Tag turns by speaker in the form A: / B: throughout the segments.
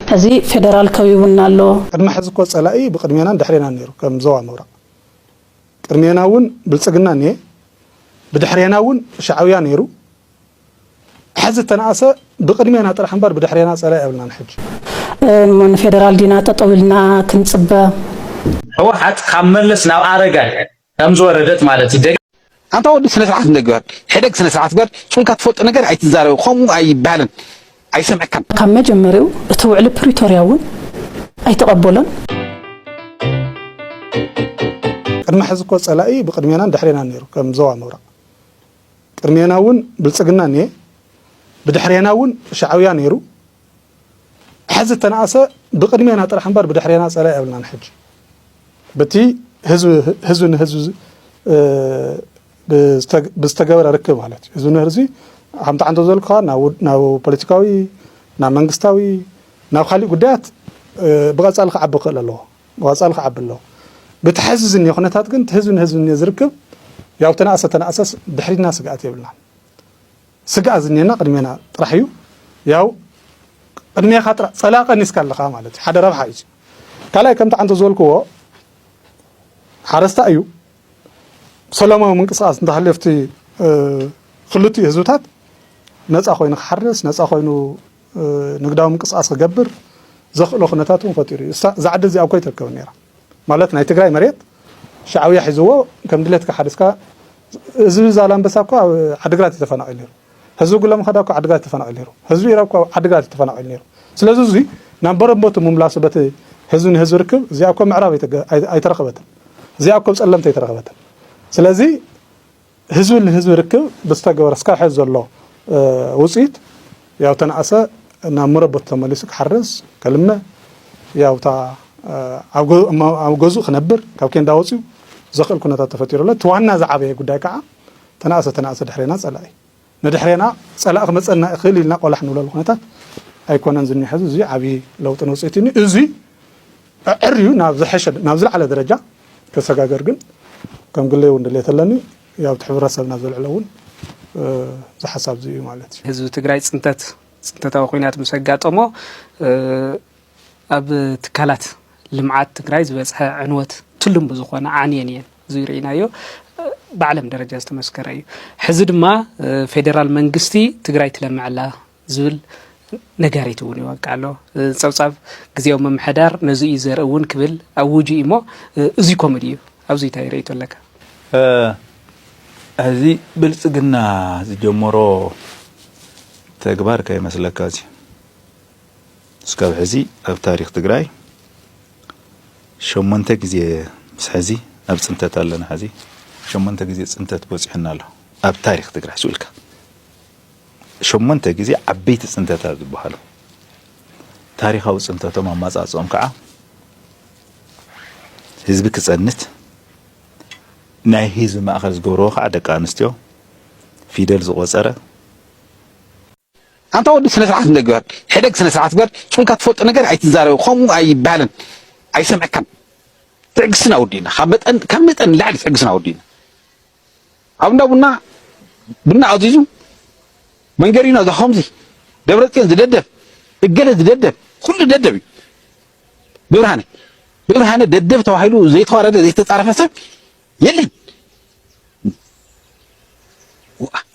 A: ሕዚ ፌደራል ከቢቡና ኣሎ። ቅድሚ ሕዚ እኮ ፀላኢ
B: ብቅድሜናን ድሕሬናን ነይሩ ከም ዞባ ምብራቅ ቅድሜና እውን ብልፅግና እኒሀ ብድሕሬና እውን ሻዕብያ ነይሩ ሕዚ እተነኣሰ ብቅድሜና ጥራሕ እምበር ብድሕሬና ፀላኢ የብልናን ሕጂ። እሞ
A: ንፌደራል ዲና ጠጠው ኢልና ክንፅበ?
C: ሕወሓት ካብ መለስ ናብ ኣረጋይ ከም ዝወረደት ማለት እዩ። ኣንታ ወዲ ስነ
D: ስርዓት ንግበር ሕደግ ስነ ስርዓት ግበር ጭንካ ትፈልጦ ነገር ኣይትዛረብ ከምኡ ኣይባሃልን ኣይሰምዕካን። ካብ መጀመርይኡ
A: እቲ ውዕሊ ፕሪቶርያ እውን ኣይተቐበሎን።
B: ቅድሚ ሕዚ እኮ ፀላኢ ብቅድሜናን ድሕሬናን ነይሩ ከም ዞባ ምብራቅ ቅድሜና እውን ብልፅግና እኒሀ ብድሕሬና እውን ሻዕብያ ነይሩ። ሐዚ እተነኣሰ ብቅድሜና ጥራሕ እምበር ብድሕሬና ፀላኢ የብልናን ሕጂ ብቲ ህዝቢ ንህዝቢ ብዝተገበረ ርክብ ማለት እዩ ህዝቢ ንህዝቢ ከምቲ ዓንተ ዘልኩኻ ናብ ፖለቲካዊ ናብ መንግስታዊ ናብ ካሊእ ጉዳያት ብቐፃሊ ክዓቢ ክእል ኣለዎ ብቐፃሊ ክዓቢ ኣለዎ ብቲ ሐዚ ዝኒኦ ኩነታት ግን ህዝቢ ንህዝቢ ዝርክብ ያው ተነኣሰ ተነኣሰስ ድሕሪትና ስግኣት የብልናን ስግኣት ዝኔና ቅድሜና ጥራሕ እዩ ያው ቅድሜኻ ጥራሕ ፀላኢ ቀኒስካ ኣለኻ ማለት እዩ ሓደ ረብሓ እዩ ካልኣይ ከምቲ ዓንተ ዝበልክዎ ሓረስታይ እዩ ሰላማዊ ምንቅስቃስ እንተሃልዮ ኣብቲ ክልቲኡ ህዝብታት ነፃ ኮይኑ ክሓርስ ነፃ ኮይኑ ንግዳዊ ምንቅስቃስ ክገብር ዘኽእሎ ኩነታት እውን ፈጢሩ እዩ እዛ ዓዲ እዚኣ እኮ ይተርከብን ነይራ ማለት ናይ ትግራይ መሬት ሻዕውያ ሒዝዎ ከም ድሌትካ ሓሪስካ ህዝቢ ዛላምበሳ እኮ ኣብ ዓድግራት እዩ ተፈናቒሉ ነይሩ ህዝቢ ጉለምኸዳ እኮ ዓድግራት ተፈናቒሉ ነይሩ ህዝቢ ኢራብ እኮ ዓድግራት እዩ ተፈናቒሉ ነይሩ ስለዚ እዚ ናብ በረቦቱ ምምላሱ በቲ ህዝቢ ንህዝቢ ርክብ እዚኣ እኮ ምዕራብ ኣይተረኸበትን እዚኣ እኮ ጸለምቲ ኣይተረኸበትን ስለዚ ህዝቢ ንህዝቢ ርክብ ብዝተገበረ እስካብ ሐዚ ዘሎ ውፅኢት ያው ተናኣሰ ናብ መረበቱ ተመሊሱ ክሓርስ፣ ከልምዕ፣ ያው እታ ኣብ ገዝኡ ክነብር ካብ ኬንዳ ወፂኡ ዘኽእል ኩነታት ተፈጢሩ ኣሎ። እቲ ዋና ዝዓበየ ጉዳይ ከዓ ተናኣሰ ተናኣሰ ድሕሬና ፀላኢ። ንድሕሬና ፀላኢ ክመፀና ይኽእል ኢልና ቆላሕ ንብለሉ ኩነታት ኣይኮነን ዝኒሀ ሕዚ እዙይ ዓብዪ ለውጥን ውፅኢትን እዩ እዙይ ኣዐርዩ ናብ ዝሐሸ ናብ ዝለዓለ ደረጃ ከሰጋገር ግን ከም ግለይ እውን ድሌት ኣለኒ ኣብቲ ሕብረተሰብና ዘልዕሎ እውን እዚ ሓሳብ እዚ እዩ ማለት እዩ ህዝቢ ትግራይ ፅንተት
E: ፅንተታዊ ኩናት ምስ ኣጋጠሞ ኣብ ትካላት ልምዓት ትግራይ ዝበፅሐ ዕንወት ትልም ብዝኾነ ዓንየን እየን እዙይ ርኢናዮ ብዓለም ደረጃ ዝተመስከረ እዩ ሕዚ ድማ ፌደራል መንግስቲ ትግራይ ትለምዐላ ዝብል ነጋሪት እውን ይወቃ ኣሎ ፀብፃብ ግዜዊ ምምሕዳር ነዚ እዩ ዘርኢ እውን ክብል ኣውጁ እዩ እሞ እዙ ኮምድ እዩ ኣብዚ እንታይ ርእቶ ኣለካ
F: እዚ ብልፅግና ዝጀመሮ ተግባር ከይመስለካ እዚ እስካብ ሕዚ ኣብ ታሪክ ትግራይ ሸሞንተ ግዜ ምስ ሐዚ ኣብ ፅንተት ኣለና ሐዚ ሸሞንተ ግዜ ፅንተት በፂሑና ኣሎ ኣብ ታሪክ ትግራይ ሱቅ ኢልካ ሸሞንተ ግዜ ዓበይቲ ፅንተታት ዝበሃሉ ታሪካዊ ፅንተቶም ኣማፃፅኦም ከዓ ህዝቢ ክፀንት ናይ ህዝቢ ማእኸል ዝገብረዎ ከዓ ደቂ ኣንስትዮ ፊደል ዝቆፀረ
D: ኣንታ ወዲ ስነ ስርዓት እንዶ ግበር ሕደግ ስነ ስርዓት ግበር ጭንካ ትፈልጦ ነገር ኣይትዛረብ ከምኡ ኣይባሃልን ኣይሰምዕካን ትዕግስትና ወዲእና ካብ መጠን ካብ መጠን ንላዕሊ ትዕግስትና ወዲእና ኣብ እንዳ ቡና ቡና ኣዚዙ መንገሪኖ እዛ ከምዚ ደብረጽዮን ዝደደብ እገለ ዝደደብ ኩሉ ደደብ እዩ ብብርሃነ ብብርሃነ ደደብ ተባሂሉ ዘይተዋረደ ዘይተጻረፈ ሰብ የለን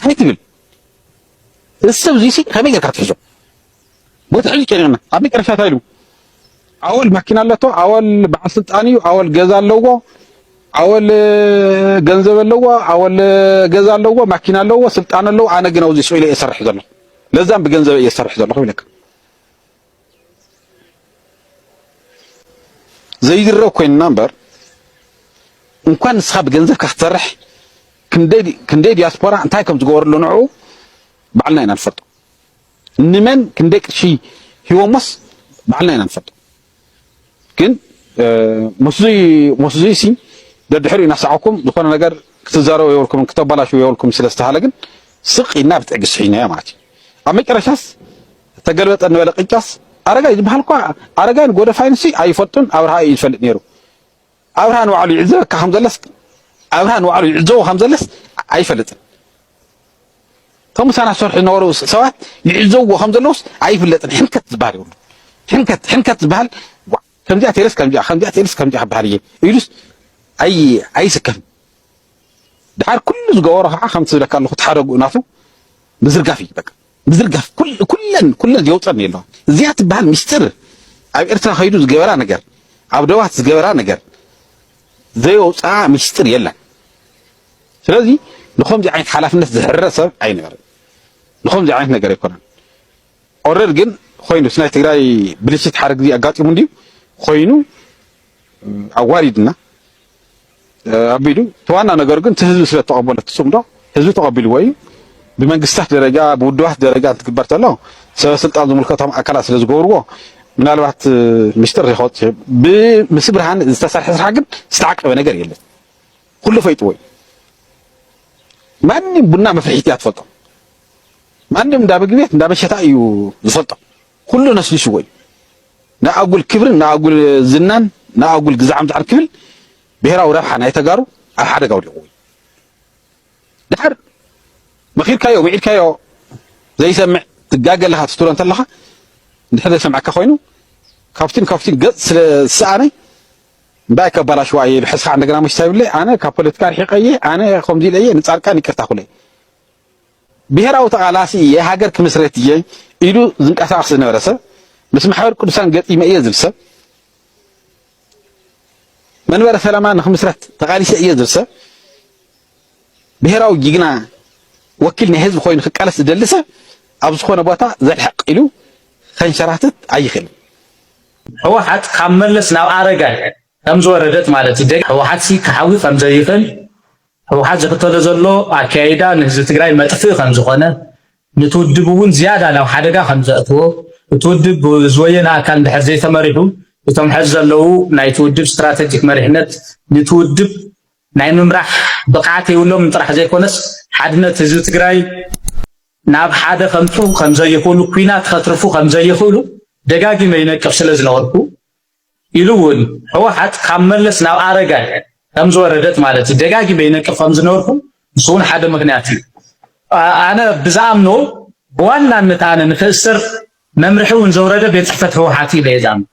D: እንታይ ትብል ንሰብ እዙይ ሲ ከመይ ጌርካ ትሕዞ በቲ ሕጂ ጨኒቕና ኣብ መጨረሻ እንታይ ኢሉ ኣወል ማኪና ኣለቶ ኣወል በዓል ስልጣን እዩ ኣወል ገዛ ኣለዎ ኣወል ገንዘብ ኣለዎ ኣወል ገዛ ኣለዎ ማኪና ኣለዎ ስልጣን ኣለዎ ኣነ ግን ኣብዚ ስኢለ እየ ዝሰርሕ ዘለኹ ለዛም ብገንዘብ እየ ዝሰርሕ ዘለኹ ይብለካ ዘይድረግ ኮይንና እምበር እንኳን ንስኻ ብገንዘብካ ክትሰርሕ ክንደይ ዲያስፖራ እንታይ ከም ዝገበረሉ ንዕኡ ባዕልና ኢና ንፈልጦ። ንመን ክንደይ ቅርሺ ሂቦሞስ ባዕልና ኢና ንፈልጦ። ግን መስዙይ መስዙይ ሲ ደድሕሪ እናሳዕኩም ዝኾነ ነገር ክትዛረቡ የብልኩምን ክተባላሽው የብልኩም ስለ ዝተሃለ ግን ስቅ ኢልና ብትዕግስቲ ሒዝናዮ ማለት እዩ ኣብ መጨረሻስ ተገልበጠ እንበለ ቅጫስ ኣረጋይ ዝበሃል እኳ ኣረጋይን ጎደፋይንሲ ኣይፈልጡን ኣብርሃ እዩ ዝፈልጥ ነይሩ ኣብርሃ ንባዕሉ ይዕዘበካ ከም ዘለስ ኣብርሃ ንባዕሉ ይዕዘቦ ከም ዘለስ ኣይፈልጥን እቶም ምሳና ዝሰርሑ ዝነበሩ ሰባት ይዕዘብዎ ከም ዘለውስ ኣይፍለጥን ሕንከት ዝበሃል ይብሉ ሕንከት ሕንከት ዝበሃል ከምዚኣ ቴለስ ከምዚኣ ከምዚኣ ቴለስ ከምዚኣ ክበሃል እየ ኢሉስ ኣይ ኣይስከፍን ድሓር ኩሉ ዝገበሮ ከዓ ከምቲ ዝብለካ ኣለኹ ተሓደጉኡ ናቱ ምዝርጋፍ እዩ በቃ ምዝርጋፍ ኩል ኩለን ኩለን የውጸን እዩ ኣሎ እዚኣ ትበሃል ምስጢር ኣብ ኤርትራ ከይዱ ዝገበራ ነገር ኣብ ደባት ዝገበራ ነገር ዘየውጽኣ ምስጢር የለን ስለዚ ንኸምዚ ዓይነት ሓላፍነት ዝሕረ ሰብ ኣይነበርን ንኸምዚ ዓይነት ነገር ኣይኮነን ኦረድ ግን ኮይኑ ናይ ትግራይ ብልሽት ሓደ ግዜ ኣጋጢሙ እንዲዩ ኮይኑ ኣዋሪድና ኣቢሉ እቲ ዋና ነገሩ ግን እቲ ህዝቢ ስለተቐበሎ እቲ ጽምዶ ህዝቢ ተቐቢልዎ እዩ። ብመንግስታት ደረጃ ብውድባት ደረጃ እንትግበር ተሎ ሰበ ስልጣን ዝምልከቶም ኣካላት ስለ ዝገብርዎ ምናልባት ምስጢር ከወጽ ብምስ ብርሃን ዝተሰርሐ ስራሕ ግን ዝተዓቀበ ነገር የለን። ኩሉ ፈይጥዎ እዩ። ማንም ቡና መፍርሒት እያ ትፈልጦ። ማንም እንዳ ምግቢ ቤት እንዳ መሸታ እዩ ዝፈልጦ። ኩሉ ነስኒስዎ እዩ። ንኣጉል ክብርን ንኣጉል ዝናን ንኣጉል ግዛዕ ምጽዓር ክብል ብሄራዊ ረብሓ ናይ ተጋሩ ኣብ ሓደጋ ወዲቕዎ እዩ። ድሓር መኺርካዮ ውዒድካዮ ዘይሰምዕ ትጋገ ኣለኻ ትስትሮ እንተለኻ እንድሕር ዘይሰምዐካ ኮይኑ ካብቲን ካብቲን ገጽ ስለ ዝሰኣነ እንታይ ከባላሽዋ እየ ብሕስኻ እንደገና መሽታ ይብለ ኣነ ካብ ፖለቲካ ርሒቀ እየ ኣነ ከምዚ ኢለ እየ ንጻድቃን ይቅርታ ኩለ ብሄራዊ ተቓላሲ እየ ሃገር ክምስርት እየ ኢሉ ዝንቀሳቐስ ዝነበረ ሰብ ምስ ማሕበር ቅዱሳን ገጢመ እየ ዝብል ሰብ መንበረ ሰላማ ንክምስረት ተቓሊሰ እየ ዝብል ሰብ ብሄራዊ ጅግና ወኪል ናይ ህዝቢ ኮይኑ ክቃለስ ዝደሊ ሰብ ኣብ ዝኾነ ቦታ ዘልሕቕ ኢሉ ከንሸራትት ኣይኽእልን።
C: ህወሓት ካብ መለስ ናብ ኣረጋይ ከምዝወረደት ማለት ህወሓት ክሓዊ ከምዘይኽእል ህውሓት ዝኽተሎ ዘሎ ኣከያይዳ ንህዝቢ ትግራይ መጥፍኢ ከምዝኾነ፣ ንቲ ውድብ እውን ዝያዳ ናብ ሓደጋ ከምዘእትዎ፣ እቲ ውድብ ብዝወየነ ኣካል እንድሕር ዘይተመሪሑ እቶም ሐዚ ዘለዉ ናይቲ ውድብ ስትራተጂክ መሪሕነት ንቲ ውድብ ናይ ምምራሕ ብቕዓት የብሎምን ጥራሕ ዘይኮነስ ሓድነት ህዝቢ ትግራይ ናብ ሓደ ከምፅኡ ከምዘይኽእሉ፣ ኲናት ከትርፉ ከምዘይኽእሉ ደጋጊመ ይነቅፍ ስለዝነበርኩ፣ ኢሉ እውን ህወሓት ካብ መለስ ናብ ኣረጋይ ከምዝወረደት ማለት እዩ ደጋጊመ ይነቅፍ ከምዝነበርኩ ንሱ እውን ሓደ ምክንያት እዩ ኣነ ብዝኣምኖ ብዋናነት ኣነ ንክእሰር መምርሒ እውን ዘውረደ ቤት ፅሕፈት ህወሓት እዩ ኢለ ዝኣምኖ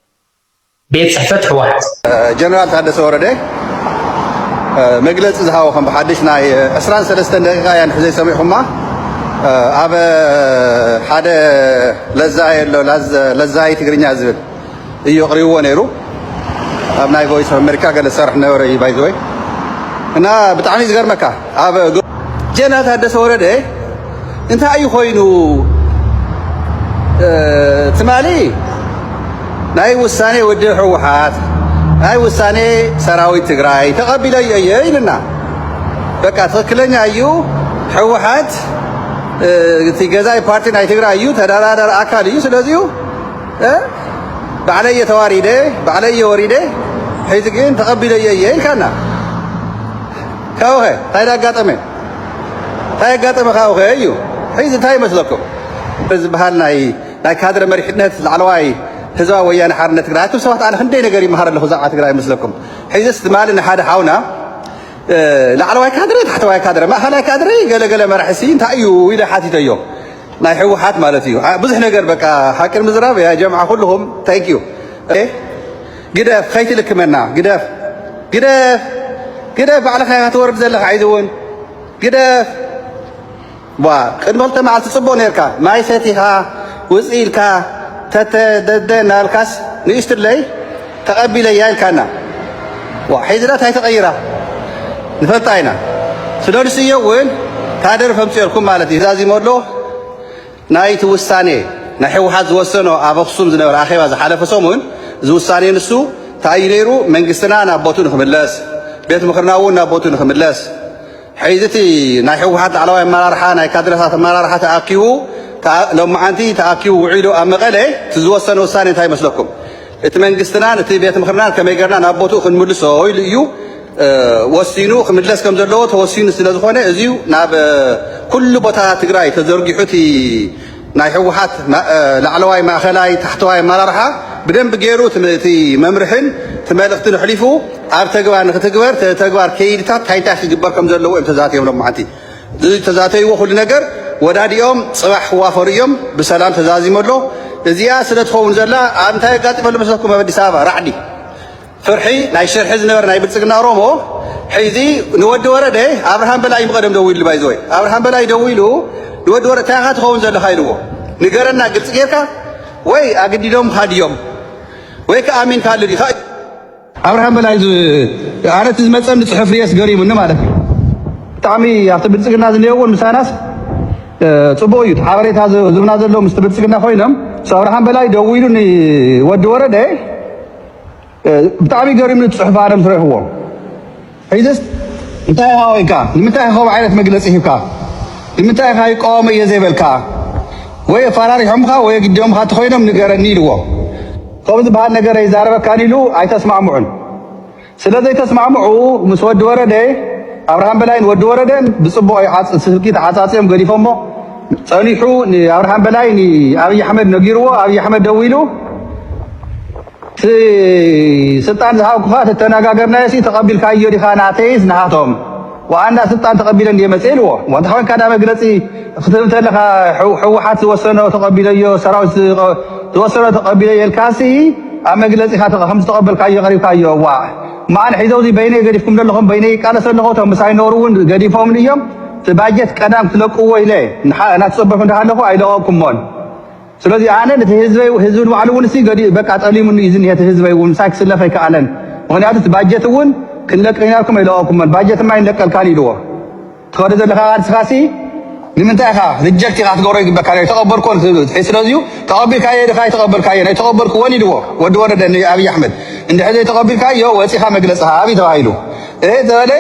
C: ቤት ፅሕፈት ህወሓት ጀነራል ታደሰ
G: ወረደ መግለፂ ዝሃቦ ከም ብሓድሽ ናይ 23 ደቂቃ እያ ንሕዘይ ሰሚዕኹማ ኣብ ሓደ ለዛየ ኣሎ ለዛይ ትግርኛ ዝብል እዩ ኣቕሪብዎ ነይሩ ኣብ ናይ ቮይስ ኦፍ ኣሜሪካ ገለ ዝሰርሕ ነበረ እዩ ባይ ዘ ወይ እና ብጣዕሚ እዩ ዝገርመካ ኣብ ጀነራል ታደሰ ወረደ እንታይ እዩ ኮይኑ ትማሊ ናይ ውሳኔ ውድብ ህወሓት ናይ ውሳኔ ሰራዊት ትግራይ ተቐቢለ እየ ይልና በቃ ትክክለኛ እዩ ህወሓት እቲ ገዛኢ ፓርቲ ናይ ትግራይ እዩ ተደራደር ኣካል እዩ ስለዚሁ ባዕለይ እየ ተዋሪደ ባዕለይ እየ ወሪደ ሕዚ ግን ተቐቢለዮ እየ ኢልካና ካብኸ እንታይ ኣጋጠመ እንታይ ኣጋጠመ ካብኸ እዩ ሕዚ እንታይ ይመስለኩም ዝበሃል ናይ ናይ ካድረ መሪሕነት ላዕለዋይ ህዝባዊ ወያነ ሓርነት ትግራይ ኣቱም ሰባት ኣነ ክንደይ ነገር ይመሃር ኣለኹ ዛዕባ ትግራይ ይመስለኩም ሕዚስ ትማሊ ንሓደ ሓውና ላዕለዋይ ካድረ ታሕተዋይ ካድረ ማእኸላይ ካድረ ገለገለ መራሕሲ እንታይ እዩ ኢለ ሓቲተዮ ናይ ሕውሓት ማለት እዩ ብዙሕ ነገር በቃ ሓቂ ምዝራብ ያ ጀምዓ ኩልኹም ታንክ ዩ ግደፍ ከይትልክመና ግደፍ ግደፍ ግደፍ ባዕልኻ ኢኻ ትወርድ ዘለኻ ዓይዚ እውን ግደፍ ቅድሚ ክልተ መዓልቲ ፅቡቕ ነርካ ማይ ሰቲኻ ውፅ ኢልካ ተተደደ እናበልካስ ንእሽትለይ ተቀቢለያ ኢልካና ዋእ ሕዚ ዳኣ ታይ ተቀይራ ንፈልጣ ኢና ስደዱስ እዮ እውን ታደርፍ ኣምፅኦልኩም ማለት እዩ ዛዚሞ ኣሎ ናይ እቲ ውሳኔ ናይ ሕወሓት ዝወሰኖ ኣብ ኣክሱም ዝነበረ ኣኼባ ዝሓለፈ ሰሙን እዚ ውሳኔ ንሱ እንታይ እዩ ነይሩ መንግስትና ናብ ቦቱ ንክምለስ ቤት ምክርና እውን ናብ ቦቱ ንክምለስ ሕዚ እቲ ናይ ሕወሓት ላዕለዋይ ኣመራርሓ ናይ ካድረታት ኣመራርሓ ተኣኪቡ ሎማዓንቲ ተኣኪቡ ውዒሉ ኣብ መቐለ እቲ ዝወሰነ ውሳኔ እንታይ ይመስለኩም እቲ መንግስትና ነቲ ቤት ምኽርና ከመይ ገርና ናብ ቦትኡ ክንምልሶ ኢሉ እዩ ወሲኑ ክምለስ ከም ዘለዎ ተወሲኑ ስለ ዝኾነ እዚዩ ናብ ኩሉ ቦታ ትግራይ ተዘርጊሑ እቲ ናይ ህወሓት ላዕለዋይ ማእኸላይ ታሕተዋይ ኣመራርሓ ብደንብ ገይሩ እቲ መምርሕን እቲ መልእኽትን ኣሕሊፉ ኣብ ተግባር ንክትግበር ተግባር ከይድታት እንታይ እንታይ ክግበር ከም ዘለዎ እዮም ተዛትዮም ሎም መዓንቲ ዝተዛተይዎ ኩሉ ነገር ወዳዲኦም ጽባሕ ክዋፈሩ እዮም ብሰላም ተዛዚሙ ኣሎ እዚኣ ስለ ትኸውን ዘላ ኣብ እንታይ ኣጋጢመሉ መሰኩም ኣብ ኣዲስ ኣበባ ራዕዲ ፍርሒ ናይ ሽርሒ ዝነበረ ናይ ብልጽግና ኦሮሞ ሕዚ ንወዲ ወረደ ኣብርሃም በላይ ምቐደም ደው ኢሉ ባይዘወይ ኣብርሃም በላይ ደው ኢሉ ንወዲ ወረደ እንታይ ኢኻ ትኸውን ዘለኻ ኢልዎ ንገረና ግልፂ ጌርካ ወይ ኣግዲዶም ሃድዮም ወይ ከኣሚንካ ኣሉ ዲኻ ኣብርሃም በላይ ኣነ እቲ ዝመፀኒ ፅሑፍ ርእየስ ገሪሙኒ ማለት እዩ። ብጣዕሚ ኣብቲ ብልፅግና ዝኔእውን ምሳናስ ፅቡቅ እዩ። እቲ ሓበሬታ ዝብና ዘሎ ምስቲ ብልፅግና ኮይኖም ምስ ኣብርሃም በላይ ደዊሉ ንወዲ ወረደ ብጣዕሚ ገሪሙኒ እቲ ፅሑፍ ኣነ ምስ ረእኹዎ ሕጅስ እንታይ ኢኻ ኮይንካ ንምንታይ ኢኻ ከምኡ ዓይነት መግለጺ ሂብካ ንምንታይ ኢኻ ይቃወሞ እየ ዘይበልካ ወይ ኣፋራሪሖምኻ ወይ ኣግዲዶምኻ እንተኾይኖም ንገረኒ ኢልዎ ከምኡ ዝበሃል ነገር ኣይዛረበካን ኢሉ ኣይተስማዕምዑን ስለ ዘይተስማዕምዑ ምስ ወዲ ወረደ ኣብርሃም በላይን ወዲ ወረደን ብጽቡቕ ስልኪ ተዓጻጽዮም ገዲፎሞ ጸኒሑ ንኣብርሃም በላይ ንኣብይ ኣሕመድ ነጊርዎ ኣብይ ኣሕመድ ደዊሉ እቲ ስልጣን ዝሃብኩኻ ተተነጋገርናዮሲ ተቐቢልካዮ ዲኻ ናተይስ ናሃቶም ዋኣንዳ ስልጣን ተቐቢለ እንድየ መፅየ ኢልዎ እሞ እንተኾይንካ ካዳ መግለፂ ክትህብ እንተለኻ ሕወሓት ዝወሰኖ ተቐቢለዮ ሰራዊት ዝወሰኖ ተቐቢለዮ ኢልካሲ ኣብ መግለፂኻ ከምዝተቐበልካዮ ቀሪብካዮ ዋእ ማኣን ሒዘውዚ በይነይ ገዲፍኩም ዘለኹም በይነይ ይቃለሰ ኣለኹ እቶም ምሳይ ኖሩ እውን ገዲፎምኒ እዮም እቲ ባጀት ቀዳም ክትለቅዎ ኢለ ናትፀበኹ እንዳሃለኹ ኣይለቐቕኩሞን ስለዚ ኣነ ነቲ ህዝበይ ህዝቢ ንባዕሉ እውን ሲ ገዲኡ በቃ ጠሊሙኒ እዩ ዝኒሀ እቲ ህዝበይ እውን ምሳይ ክስለፍ ኣይከኣለን ምክንያቱ እቲ ባጀት እውን ክንለቅ ኢና ኢልኩም ኣይለቀኩመን ባጀት ድማ ኣይንለቀልካን ኢልዎ ትኸዶ ዘለካ ቃልስኻ ሲ ንምንታይ ኢኻ ሪጀክት ኢኻ ትገብሮ ይግበካ ናይ ተቐበልኮን ስለዚዩ ተቐቢልካዮ ድኻ ኣይተቐበልካዮ ናይ ተቐበልክዎን ኢልዎ ወዲ ወረደ ንኣብይ ኣሕመድ እንድሕር ዘይተቐቢልካዮ ወፂኻ መግለፅኻ ኣብይ ተባሂሉ ተበለ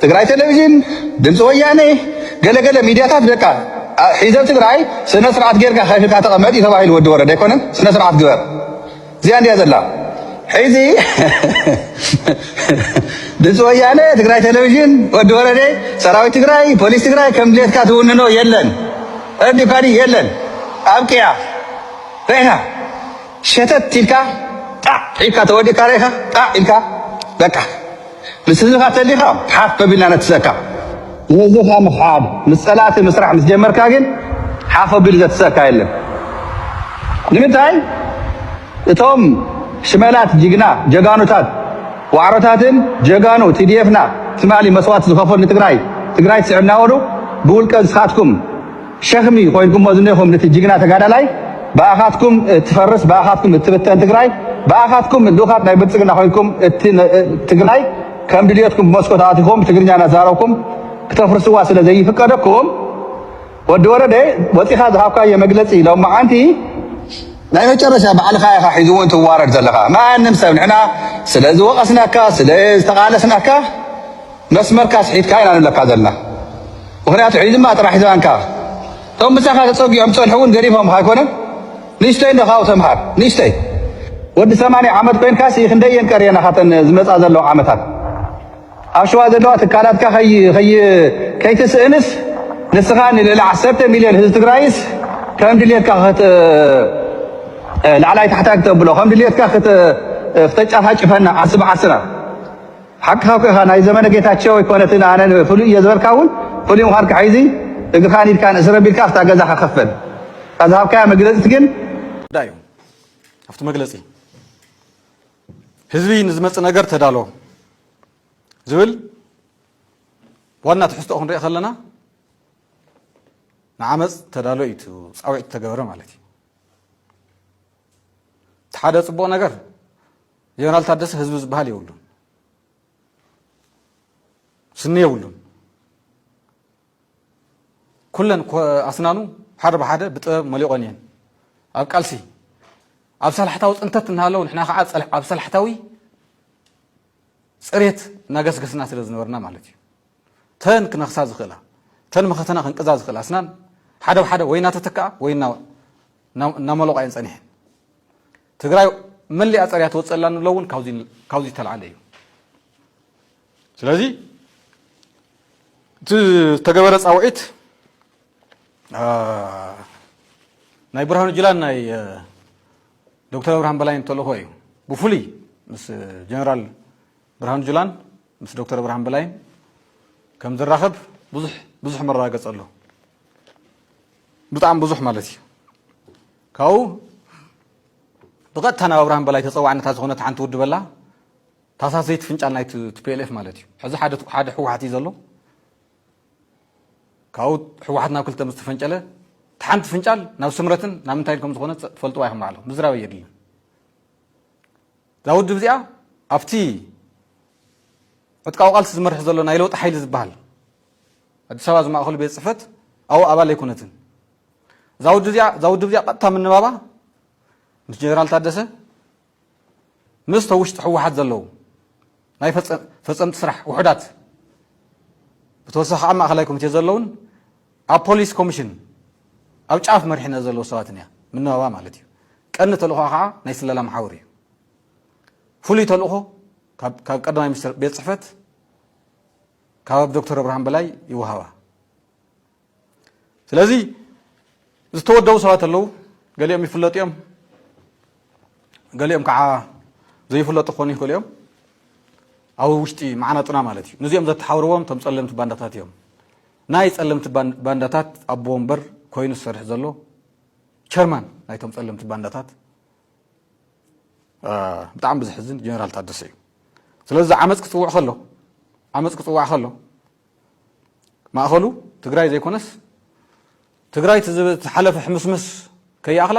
G: ትግራይ ቴሌቪዥን፣ ድምፂ ወያነ፣ ገለ ገለ ሚድያታት በቃ ሒዘብ ትግራይ ስነ ስርዓት ጌርካ ከፊልካ ተቐመጥ እዩ ተባሂሉ ወዲ ወረደ ኣይኮነን ስነ ስርዓት ግበር እዚኣ እንዲያ ዘላ ሕዚ ድምፂ ወያነ ትግራይ ቴሌቪዥን ወዲ ወረደ ሰራዊት ትግራይ ፖሊስ ትግራይ ከም ድሌትካ ትውንኖ የለን ረዲካዲ የለን ኣብቅያ ሬና ሸተት ኢልካ ጣዕ ኢልካ ተወዲእካ ርኢኻ ጣዕ ኢልካ በቃ ምስ ህዝብኻ ተሊኻ ሓፍ ኣቢልና ነትሰካ ንህዝብኻ ምኽሓድ ምስ ፀላእቲ ምስራሕ ምስ ጀመርካ ግን ሓፍ ኣቢሉ ዘትሰካ የለን ንምንታይ እቶም ሽመላት ጅግና ጀጋኑታት ዋዕሮታትን ጀጋኑ ቲዲኤፍና ትማሊ መስዋእቲ ዝኸፈሉ ንትግራይ ትግራይ ትስዕብ ናበሉ ብውልቀ ንስኻትኩም ሸኽሚ ኮይንኩሞ ዝኔኹም ንቲ ጅግና ተጋዳላይ ብኣኻትኩም እትፈርስ ብኣኻትኩም እትብተን ትግራይ ብኣኻትኩም ልኡኻት ናይ ብልፅግና ኮይንኩም እቲ ትግራይ ከም ድልየትኩም ብመስኮት ኣቲኹም ትግርኛ ናዛረብኩም ክተፍርስዋ ስለ ዘይፍቀደኩም ወዲ ወረደ ወፂኻ ዝሃብካዮ መግለፂ ሎማዓንቲ ናይ መጨረሻ ባዕልኻ ኢኻ ሒዚ እውን ትዋረድ ዘለኻ ማንም ሰብ ንሕና ስለ ዝወቐስናካ ስለ ዝተቓለስናካ መስመርካ ኣስሒትካ ኢና ንብለካ ዘለና ምክንያቱ ሒዝማ ጥራሕ ሒዝማንካ እቶም ምሳካ ተፀጊዖም ዝፀንሑ እውን ገዲፎምካ ኣይኮነን ንእሽተይ እንዶ ካብኡ ተምሃር ንእሽተይ ወዲ ሰማንያ ዓመት ኮይንካ ሲ ክንደይ እየን ቀርየና ካተን ዝመፃ ዘለዋ ዓመታት ኣብ ሸዋ ዘለዋ ትካላትካ ከይትስእንስ ንስኻ ንልዕሊ ዓሰርተ ሚልዮን ህዝቢ ትግራይስ ከም ድልየትካ ላዕላይ ታሕታይ ክተብሎ ከም ድልየትካ ክተጫፋጭፈና ዓስቢ ዓስራ ሓቅኻ ኢኻ ናይ ዘመነ ጌታቸው ኣይኮነትን ኣነ ፍሉይ እየ ዝበልካ እውን ፍሉይ ምዃንካ ሒዚ እግርኻን ኢድካን እስር ኣቢልካ ኣብታ ገዛኻ ከፈል እታ ዝሃብካያ መግለፂት ግን ጉዳይ እዩ
H: ኣብቲ መግለፂ ህዝቢ ንዝመፅእ ነገር ተዳሎ ዝብል ዋና ትሕዝቶ ክንሪኦ ከለና ንዓመፅ ተዳሎ እዩ ፃውዒት ተገበረ ማለት እዩ እቲ ሓደ ፅቡቕ ነገር ጀነራል ታደሰ ህዝቢ ዝበሃል የብሉን፣ ስኒ የብሉን። ኩለን ኣስናኑ ሓደ ብሓደ ብጥበብ መሊቖን እየን። ኣብ ቃልሲ ኣብ ሰላሕታዊ ፅንተት እናሃለው ንሕና ከዓ ኣብ ሰላሕታዊ ፅሬት እናገስገስና ስለ ዝነበርና ማለት እዩ ተን ክነኽሳ ዝኽእላ ተን መኸተና ክንቅዛ ዝኽእል ኣስናን ሓደ ብሓደ ወይ እናተተክኣ ወይ እናመለቋ እየን ፀኒሐን ትግራይ መሊኣ ፀሪያ ትወፅእ ኣላ ንብሎ እውን ካብዚ ዝተልዓለ እዩ ስለዚ እቲ ዝተገበረ ፃውዒት ናይ ብርሃኑ ጅላን ናይ ዶክተር ኣብርሃም በላይን ተልእኾ እዩ ብፍሉይ ምስ ጀነራል ብርሃኑ ጁላን ምስ ዶክተር ኣብርሃም በላይን ከም ዝራኸብ ብዙሕ ብዙሕ መረጋገፂ ኣሎ ብጣዕሚ ብዙሕ ማለት እዩ ካብኡ ብቐጥታ ናብ ኣብርሃም በላይ ተጸዋዕን እታ ዝኾነት ሓንቲ ውድብ ኣላ፣ ታህሳስ ዘይትፍንጫል ናይ tplf ማለት እዩ። ሕዚ ሓደ ሓደ ህወሓት እዩ ዘሎ። ካብኡ ህወሓት ናብ ክልተ ምስ ተፈንጨለ እቲ ሓንቲ ፍንጫል ናብ ስምረትን ናብ ምንታይን ከም ዝኾነ ጸ- ትፈልጥዋ ኢኹም ባዕልኹም ምዝራብ ኣየድልን። እዛ ውድብ እዚኣ ኣብቲ ዕጥቃዊ ቃልሲ ዝመርሕ ዘሎ ናይ ለውጢ ሓይሊ ዝበሃል ኣዲስ ኣበባ ዝማእኸሉ ቤት ፅሕፈት ኣብኡ ኣባል ኣይኮነትን እዛ ውድብ እዚኣ እዛ ውድብ እዚኣ ቀጥታ ምንባባ ምስ ጀነራል ታደሰ ምስ ተውሽጢ ሕወሓት ዘለዉ ናይ ፈፀምቲ ስራሕ ውሑዳት ብተወሳኺ ከዓ ማእኸላይ ኮሚቴ ዘለውን ኣብ ፖሊስ ኮሚሽን ኣብ ጫፍ መሪሕነት ዘለዉ ሰባትን እያ ምንባባ ማለት እዩ ቀንዲ ተልእኾ ከዓ ናይ ስለላ መሓውር እዩ ፍሉይ ተልእኾ ካብ ቀዳማይ ሚኒስትር ቤት ፅሕፈት ካብ ዶክተር ኣብርሃም በላይ ይወሃባ ስለዚ ዝተወደቡ ሰባት ኣለዉ ገሊኦም ይፍለጡ እዮም ገሊኦም ከዓ ዘይፍለጡ ክኾኑ ይኽእሉ እዮም ኣብ ውሽጢ መዓናጡና ማለት እዩ ንዚኦም ዘተሓብርዎም እቶም ፀለምቲ ባንዳታት እዮም ናይ ፀለምቲ ባንዳታት ኣቦ ወንበር ኮይኑ ዝሰርሕ ዘሎ ቸርማን ናይቶም ፀለምቲ ባንዳታት ብጣዕሚ ብዝሕዝን ጀነራል ታደሰ እዩ ስለዚ ዓመፅ ክፅውዕ ከሎ ዓመፅ ክፅዋዕ ከሎ ማእኸሉ ትግራይ ዘይኮነስ ትግራይ ዝሓለፈ ሕምስምስ ከይኣኽላ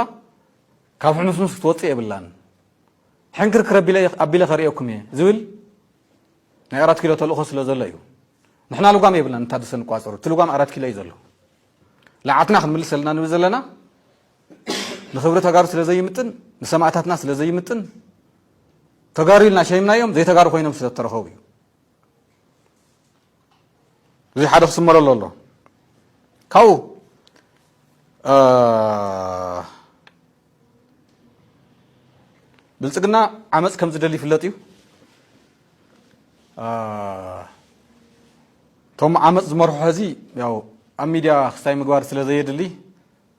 H: ካብ ሕምስምስ ክትወፅእ የብላን ሕንክርክር ኣቢለ ከርእየኩም እየ ዝብል ናይ ኣራት ኪሎ ተልእኾ ስለ ዘሎ እዩ ንሕና ልጓም የብልና ንታደሰ ንቋፀሩ እቲ ልጓም ኣራት ኪሎ እዩ ዘሎ ልዓትና ክንምልስ ዘለና ንብል ዘለና ንክብሪ ተጋሩ ስለ ዘይምጥን ንሰማእታትና ስለ ዘይምጥን ተጋሩ ኢልና ሸይምናዮም ዘይተጋሩ ኮይኖም ስለ ዝተረኸቡ እዩ እዚ ሓደ ክስመረሎ ኣሎ ካብኡ ብልፅግና ዓመፅ ከም ዝደሊ ይፍለጥ እዩ እቶም ዓመፅ ዝመርሑ ሕዚ ያው ኣብ ሚድያ ክስታይ ምግባር ስለ ዘየድሊ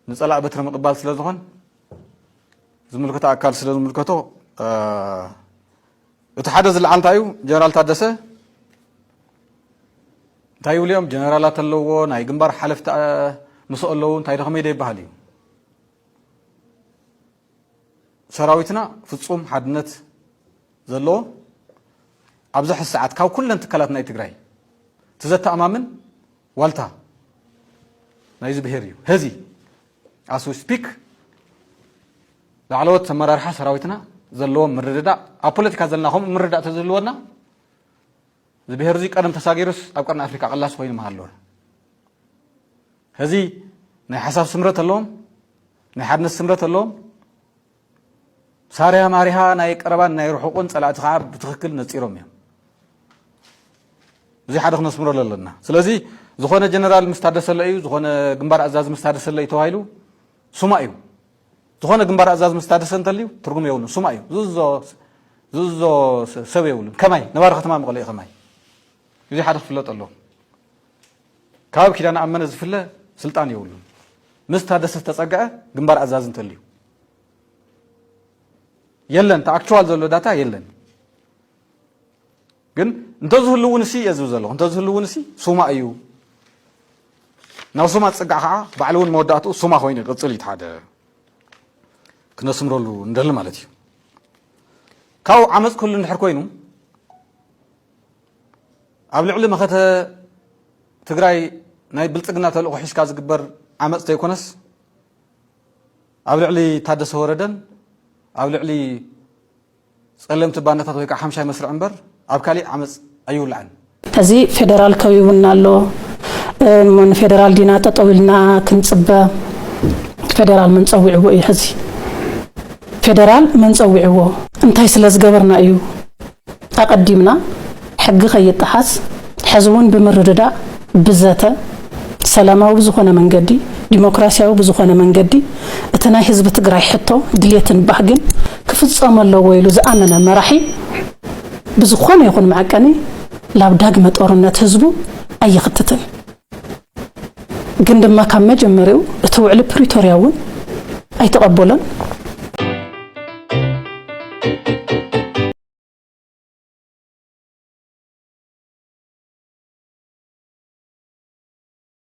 H: ንፀላኢ በትሪ ምቕባል ስለ ዝኾን ዝምልከቶ ኣካል ስለ ዝምልከቶ እቲ ሓደ ዝለዓል እንታይ እዩ ጀነራል ታደሰ እንታይ ይብሉ እዮም ጀነራላት ኣለዎ ናይ ግንባር ሓለፍቲ ምስ ኣለዉ እንታይ ደኸመይ ዶ ይበሃል እዩ ሰራዊትና ፍፁም ሓድነት ዘለዎ ኣብዚ ሕዚ ሰዓት ካብ ኩለን ትካላት ናይ ትግራይ እቲ ዘተኣማምን ዋልታ ናይዚ ብሄር እዩ ሀዚ ኣስ ዊ ስፒክ ላዕለዎት ኣመራርሓ ሰራዊትና ዘለዎም ምርድዳእ ኣብ ፖለቲካ ዘለና ከምኡ ምርዳእ ተዝህልወና እዚ ብሄር እዚ ቀደም ተሳጊሩስ ኣብ ቀርኒ ኣፍሪካ ቀላሲ ኮይኑ ምሃለወ ሀዚ ናይ ሓሳብ ስምረት ኣለዎም ናይ ሓድነት ስምረት ኣለዎም ሳርያ ማሪሃ ናይ ቀረባን ናይ ርሑቁን ጸላእቲ ከዓ ብትክክል ነጺሮም እዮም እዚ ሓደ ክነስምረሉ ኣለና ስለዚ ዝኾነ ጀነራል ምስ ታደሰለ እዩ ዝኾነ ግንባር ኣዛዝ ምስ ታደሰለ እዩ ተባሂሉ ሱማ እዩ ዝኾነ ግንባር ኣዛዝ ምስ ታደሰ እንተልዩ ትርጉም የብሉ ሱማ እዩ ዝዞ ዝዞ ሰብ የብሉን ከማይ ነባሪ ከተማ መቐለ እዩ ከማይ እዚ ሓደ ክፍለጥ ኣሎ ካብ ኪዳነ ኣመነ ዝፍለ ስልጣን የብሉን ምስ ታደሰ ዝተፀግዐ ግንባር ኣዛዝ እንተልዩ የለን እቲ ኣክቹዋል ዘሎ ዳታ የለን ግን እንተዝህሉ እውን እሲ እየ ዝብ ዘለኹ እንተዝህሉ እውን እሲ ሱማ እዩ ናብ ሱማ ዝፅጋዕ ከዓ ባዕሉ እውን መወዳእትኡ ሱማ ኮይኑ ይቅፅል እዩ ሓደ ክነስምረሉ ንደሊ ማለት እዩ ካብኡ ዓመፅ ክህሉ እንድሕር ኮይኑ ኣብ ልዕሊ መኸተ ትግራይ ናይ ብልፅግና ተልእኮ ሒዝካ ዝግበር ዓመፅ ተይኮነስ ኣብ ልዕሊ ታደሰ ወረደን ኣብ ልዕሊ ጸለምቲ ባንዳታት ወይ ከዓ ሓምሻይ መስርዕ እምበር ኣብ ካሊእ ዓመፅ ኣይውላዕን። ሕዚ
A: ፌደራል ከቢቡና ኣሎ እሞ ንፌደራል ዲና ጠጠው ኢልና ክንፅበ ፌደራል መን ፀዊዕዎ እዩ ሕዚ ፌደራል መን ፀዊዕዎ እንታይ ስለዝገበርና እዩ ኣቐዲምና ሕጊ ከይጠሓስ ሕዚ እውን ብምርድዳእ፣ ብዘተ፣ ሰላማዊ ብዝኾነ መንገዲ፣ ዲሞክራሲያዊ ብዝኾነ መንገዲ እቲ ናይ ህዝቢ ትግራይ ሕቶ፣ ድሌትን ባህግን ክፍፀሙ ኣለዎ ኢሉ ዝኣመነ መራሒ ብዝኾነ ይኹን መዐቀኒ ላብ ዳግመ ጦርነት ህዝቡ ኣይኽትትን። ግን ድማ ካብ መጀመሪኡ እቲ ውዕሊ ፕሪቶርያ እውን ኣይተቐበሎን።